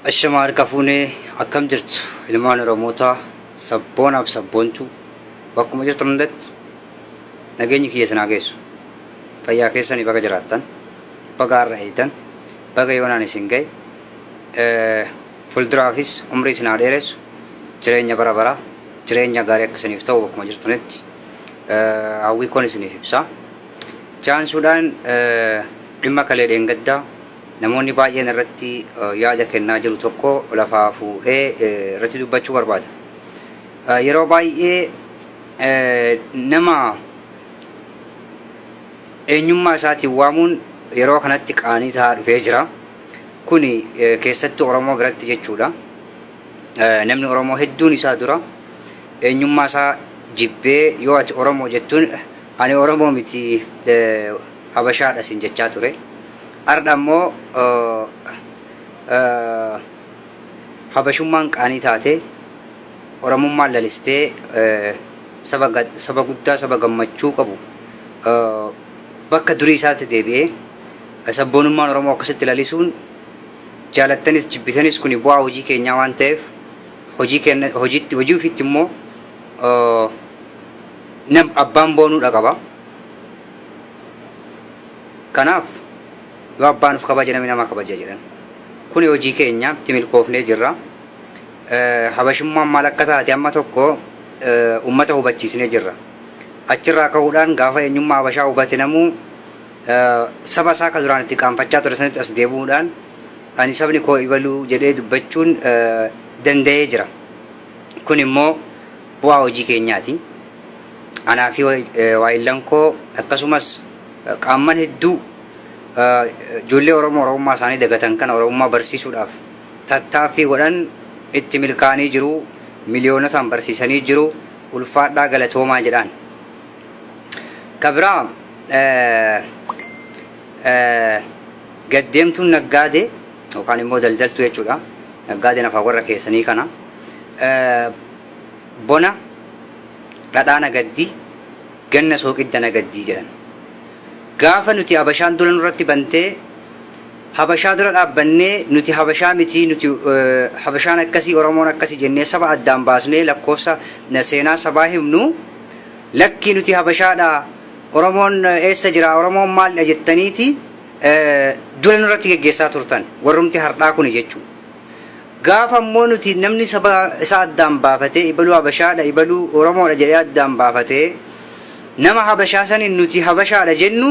Ashama harka fuunee akkam jirtu ilmaan Oromootaa sabboonaaf sabboontuu bakkuma jirtan hundatti nageenyi kiyya isin haa geessu. Fayyaa keessanii baga jiraattan, baga har'a eeydan, baga yoonaan isin ga'e. Eh, Fuulduraafis umrii isin haa dheeressu, jireenya bara baraa, jireenya gaarii akka isiniif ta'u bakkuma jirtanitti eh, hawwii koon isiniif ibsaa. Jaansuudhaan eh, Dhimma kalee dheengadda namoonni baay'een irratti yaada kennaa jiru tokko lafaa fuudhee irratti dubbachuu barbaada. Yeroo baay'ee nama eenyummaa isaatiin waamuun yeroo kanatti qaanii ta'aa dhufee jira. Kuni keessattuu Oromoo biratti jechuudha. Namni Oromoo hedduun isaa dura eenyummaa isaa jibbee yoo ati Oromoo jettuun ani Oromoo miti Habashaadha isin jechaa ture. Ardha immoo Habashummaan qaanii taatee, Oromummaan lalistee saba guddaa saba gammachuu qabu bakka durii isaatti deebi'ee sabboonummaan Oromoo akkasitti lalisuun jaalattanis jibbitanis kuni bu'aa hojii keenyaa waan ta'eef hojii keenya hojiitti hojii ofiitti immoo nam abbaan boonuu dhaqaba. Kanaaf yoo abbaa nuf kabaja namni nama kabaja jedhan. Kuni hojii keenya itti milkoofnee jirra. Habashummaan maal akka taate amma tokko ummata hubachiisnee jirra. Achirraa ka'uudhaan gaafa eenyummaa habashaa hubate namuu saba isaa ka duraan itti qaanfachaa ture sanitti as deebi'uudhaan ani sabni koo ibaluu jedhee dubbachuun danda'ee jira. Kun immoo Bu'aa hojii keenyaati. Anaa fi waayillan koo akkasumas qaamman hedduu ijoollee Oromoo Oromummaa isaanii dagatan kana Oromummaa barsiisuudhaaf tattaaffii godhan itti milkaa'anii jiru, miliyoonotaan barsiisanii jiru, ulfaadhaa galatoomaa jedhaan. Ka biraa gaddeemtuun naggaadee yookaan immoo daldaltuu jechuudha. Naggaadeen afaan warra keessanii kana. Bona dhadhaa nagaddi, ganna sooqidda nagaddi jedhan. Gaafa nuti Habashaan dula nurratti bantee Habashaa dura dhaabbannee nuti Habashaa mitii nuti Habashaan akkasii Oromoon akkasii jennee saba addaan baasnee lakkoofsa seenaa sabaa himnu lakkii nuti Habashaadha Oromoon eessa jira Oromoon maaldha jettaniiti dula nurratti geggeessaa turtan warrumti hardhaa kuni jechuudha. Gaafa ammoo nuti namni saba isaa addaan baafatee ibaluu Habashaadha ibaluu Oromoodha jedhee addaan baafatee nama Habashaa saniin nuti Habashaadha jennu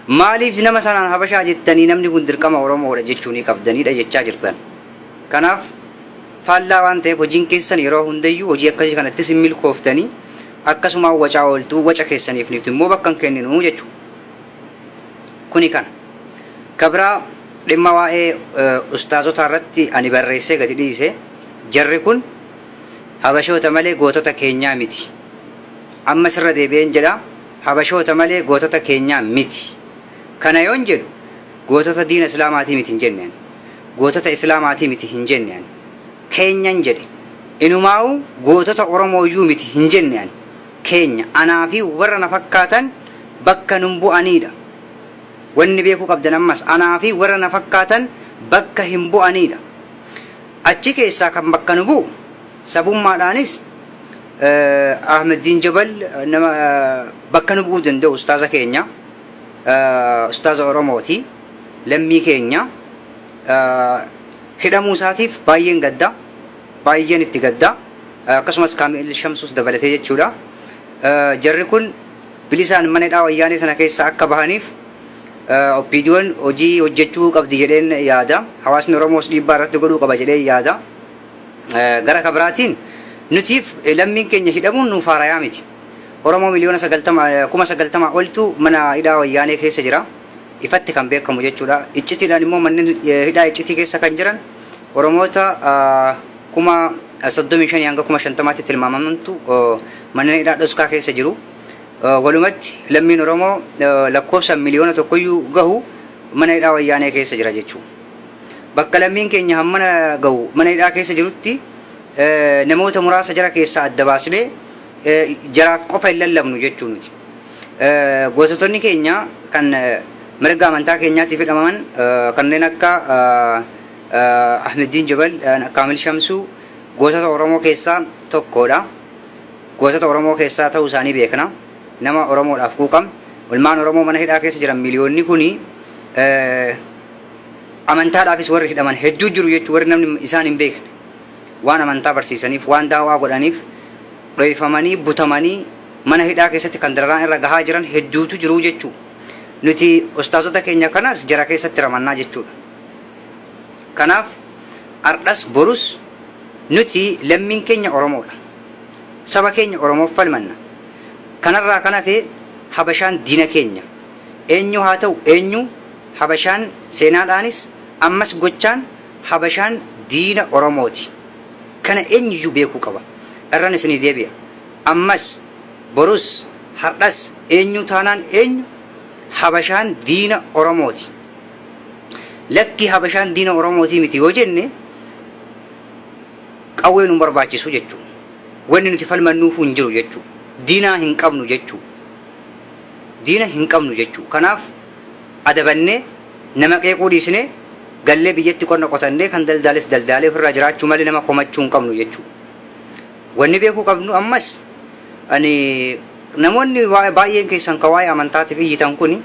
maaliif nama sanaan Habashaa jettanii namni kun dirqama Oromoodha jechuu ni qabdaniidha jechaa jirtan. Kanaaf faallaa waan ta'eef hojiin keessan yeroo hundayyuu hojii akkasii kanattis hin milkooftanii akkasumaan wacaa ooltuu waca keessaniif nuti immoo bakka hin kenninu jechuudha. Kuni kana. Ka biraa dhimma waa'ee ustaazotaa irratti ani barreessee gadi dhiise jarri kun habashoota malee gootota keenyaa miti. Ammas irra deebi'een jedha habashoota malee gootota keenyaa miti. Kana yoon jedhu gootota diina islaamaatii miti hin jenne ani. Gootota islaamaatii miti hin jenne ani. Keenyan jedhe. Inumaa'uu gootota oromooyyuu miti hin jenne ani. keenya, anaa fi warra na fakkaatan bakka nun bu'anii dha. Wanni beekuu qabdan ammas, anaa fi warra na fakkaatan bakka hin bu'anii dha. Achi keessaa kan bakka nu bu'u, sabummaadhaanis Ahmeddiin Jabal nama bakka nu bu'uu danda'u ustaaza keenya, ustaaza Oromoo ti, lammii keenya. Hidhamuu isaatiif baay'een gadda. Baayyeen itti gadda. Akkasumas Kaami'il Shamsuus dabalatee jechuudha. Jarri kun bilisaan mana hidhaa Wayyaanee sana keessaa akka bahaniif OPDOn hojii hojjechuu qabdi jedheen yaada. Hawaasni Oromoos dhiibbaa irratti godhuu qaba jedheen yaada. Gara ka biraatiin nutiif lammiin keenya hidhamuun nuuf haarayaa miti. Oromoo miliyoona 90 kuma 90 oltu mana hidhaa Wayyaanee keessa jira. Ifatti kan beekamu jechuudha. Iccitiidhaan immoo manneen hidhaa iccitii keessa kan jiran Oromoota kuma 35 hanga kuma 50tti tilmaamamantu manneen hidhaa dhoskaa keessa jiru. Walumatti lammiin Oromoo lakkoofsaan miliyoona tokkoyyuu gahu mana hidhaa wayyaanee keessa jira jechuudha. Bakka lammiin keenya hammana gahu mana hidhaa keessa jirutti namoota muraasa jara keessaa adda baasnee jaraaf qofa hin lallabnu jechuu nuti. Goototonni keenya kan mirga amantaa keenyaatiif hidhamaman kanneen akka Ahmeddiin Jabal Kaamil Shamsuu gootota Oromoo keessaa tokkoodha. Gootota Oromoo keessaa ta'uu isaanii beekna. Nama Oromoodhaaf quuqam. Ilmaan Oromoo mana hidhaa keessa jiran miliyoonni kuni amantaadhaafis warri hidhaman hedduu jiru jechuun warri namni isaan hin beekne waan amantaa barsiisaniif waan daawaa godhaniif dhoyfamanii butamanii mana hidhaa keessatti kan dararaan irra gahaa jiran hedduutu jiru jechuudha. Nuti ustaazota keenya kanas jara keessatti ramannaa jechuudha. Kanaaf ardhas borus nuti lammiin keenya Oromoodha. Saba keenya Oromoof falmanna. Kanarraa kan hafe Habashaan diina keenya. Eenyuu haa ta'u eenyuu Habashaan seenaadhaanis ammas gochaan Habashaan diina Oromooti. Kana eenyuyyuu beekuu qaba. Irran isinii deebi'a. Ammas, borus, hardhas eenyuu taanaan eenyu Habashaan diina Oromooti. Lakki Habashaan diina Oromootii miti yoo jenne qawwee nu barbaachisu jechuu. Wanni nuti falmannuufuu hin jiru jechuu. Diinaa hin qabnu jechuu. Diina hin qabnu jechuu. Kanaaf adabannee nama qeequu dhiisnee gallee biyyatti qonna qotannee kan daldaales daldaalee ofirraa jiraachuu malee nama komachuu hin qabnu jechuu. Wanni beekuu qabnu ammas ani namoonni waa- baay'een keessan ka waa'ee amantaatiif iyyitan kun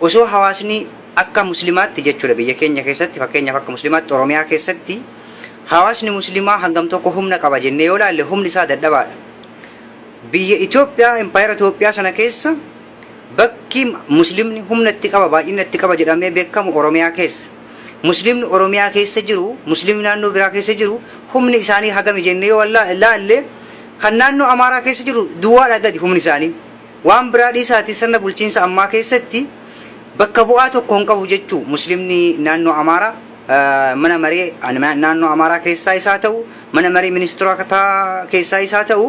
Osoo hawaasni akka muslimaatti jechuudha biyya keenya keessatti fakkeenyaaf akka muslimaatti Oromiyaa keessatti hawaasni muslimaa hangam tokko humna qaba jennee yoo laalle humni isaa dadhabaadha. Biyya Itoophiyaa impaayera Itoophiyaa sana keessa bakki muslimni humna itti qaba baay'ina itti qaba jedhamee beekamu Oromiyaa keessa. Muslimni Oromiyaa keessa jiru muslimni naannoo biraa keessa jiru humni isaanii hagami jennee yoo laalle kan naannoo Amaaraa keessa jiru duwwaadhaa gadi humni isaanii. Waan biraa dhiisaatii sirna bulchiinsa ammaa keessatti bakka bu'aa tokko hin qabu jechuu Musliimni naannoo Amaaraa mana maree naannoo Amaaraa keessaa isaa ta'u mana maree ministirootaa keessaa isaa ta'u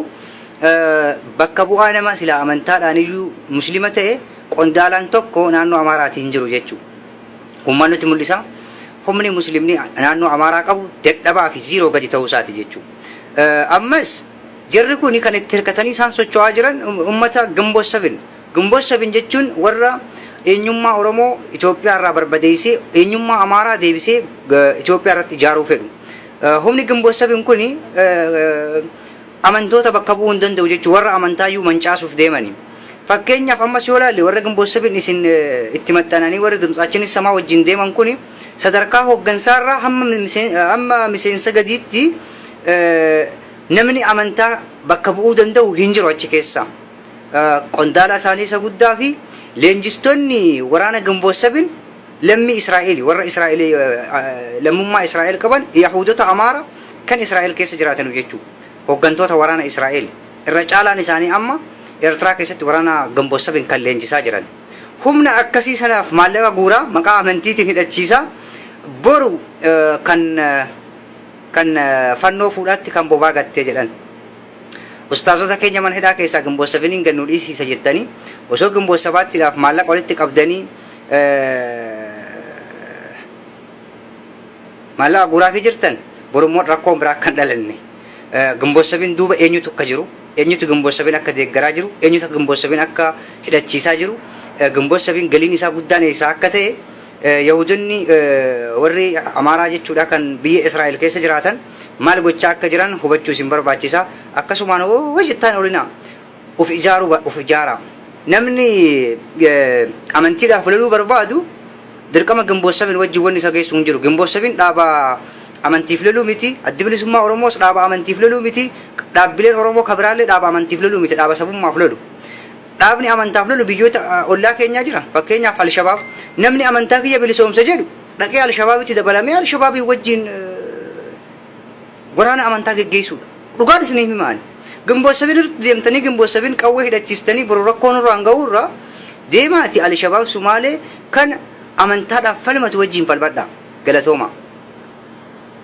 bakka bu'aa nama silaa amantaadhaan iyyuu Musliima ta'e qondaalaan tokko naannoo Amaaraatii hin jiru jechuu kun maal nutti mul'isa? Humni Musliimni naannoo Amaaraa qabu dadhabaa fi ziiroo gadi ta'uu isaati jechuu ammas Jarri kun kan itti hirkatanii isaan socho'aa jiran ummata Ginbot 7. Ginbot 7 jechuun warra eenyummaa Oromoo Itoophiyaa irraa barbadeessee eenyummaa Amaaraa deebisee Itoophiyaa irratti ijaaruu fedhu. Humni Ginbot 7 kun amantoota bakka bu'uu hin danda'u jechuun warra amantaa iyyuu mancaasuuf deemani. Fakkeenyaaf ammas yoo ilaalle warra Ginbot 7 isin itti maxxananii warri Dimtsaachin Issamaa wajjin deeman kun sadarkaa hooggansaa irraa hamma miseensa gadiitti namni amantaa bakka bu'uu danda'u hin jiru achi keessa. Qondaalaa isaanii isa guddaa fi leenjistoonni waraana Ginboot Sabin lammii Israa'eeli warra Israa'eel lammummaa Israa'eel qaban Yahuudota Amaara kan Israa'eel keessa jiraatan jechuudha. Hooggantoota waraana Israa'eel irra caalaan isaanii amma Eertiraa keessatti waraana Ginboot Sabin kan leenjisaa jiran. Humna akkasii sanaaf maallaqa guuraa maqaa amantiitiin hidhachiisaa boru kan Kan fannoo fuudhaatti kan bobaa gattee jedhan. Ustaazota keenya mana hidhaa keessaa Ginboot Seveniin gad nu dhiisiisa jettanii osoo Ginboot Sabaattiidhaaf maallaqa walitti qabdanii maallaqa guuraafii jirtan borummoo rakkoon biraa akka hin dhalanne. Ginboot Seveniin duuba eenyutu akka jiru eenyutu Ginboot Seveniin akka deeggaraa jiru eenyutu Ginboot Seveniin akka hidhachiisaa jiru Ginboot Seveniin galiin isaa guddaan eessaa akka ta'e Yahuudonni warri Amaaraa jechuudha kan biyya Israa'el keessa jiraatan maal gochaa akka jiran hubachuu isin barbaachisa. Akkasumaan hoo jettaan olinaa of ijaaruu of ijaara. Namni amantiidhaaf loluu barbaadu dirqama Gimboot Sabin wajjin wanni isa geessu hin jiru. Gimboot Sabin dhaaba amantiif loluu miti. Addi bilisummaa Oromoos dhaaba amantiif loluu miti. Dhaabbileen Oromoo kabiraallee dhaaba amantiif loluu miti. Dhaaba sabummaaf lolu. Dhaabni amantaaf lolu biyyoota ollaa keenyaa jira. Fakkeenyaaf Alshabaab. Namni amantaa kiyya bilisoomsa jedhu dhaqee Alshabaabitti dabalamee Alshabaabii wajjin waraana amantaa geggeessuudha. Dhugaan isinii himaani. Gimboot sabin irratti deemtanii gimboot sabin qawwee hidhachiistanii boru rakkoo nurraan ga'uu irraa deemaati Alshabaab Sumaalee kan amantaadhaaf falmatu wajjin falmadhaa. Galatoomaa.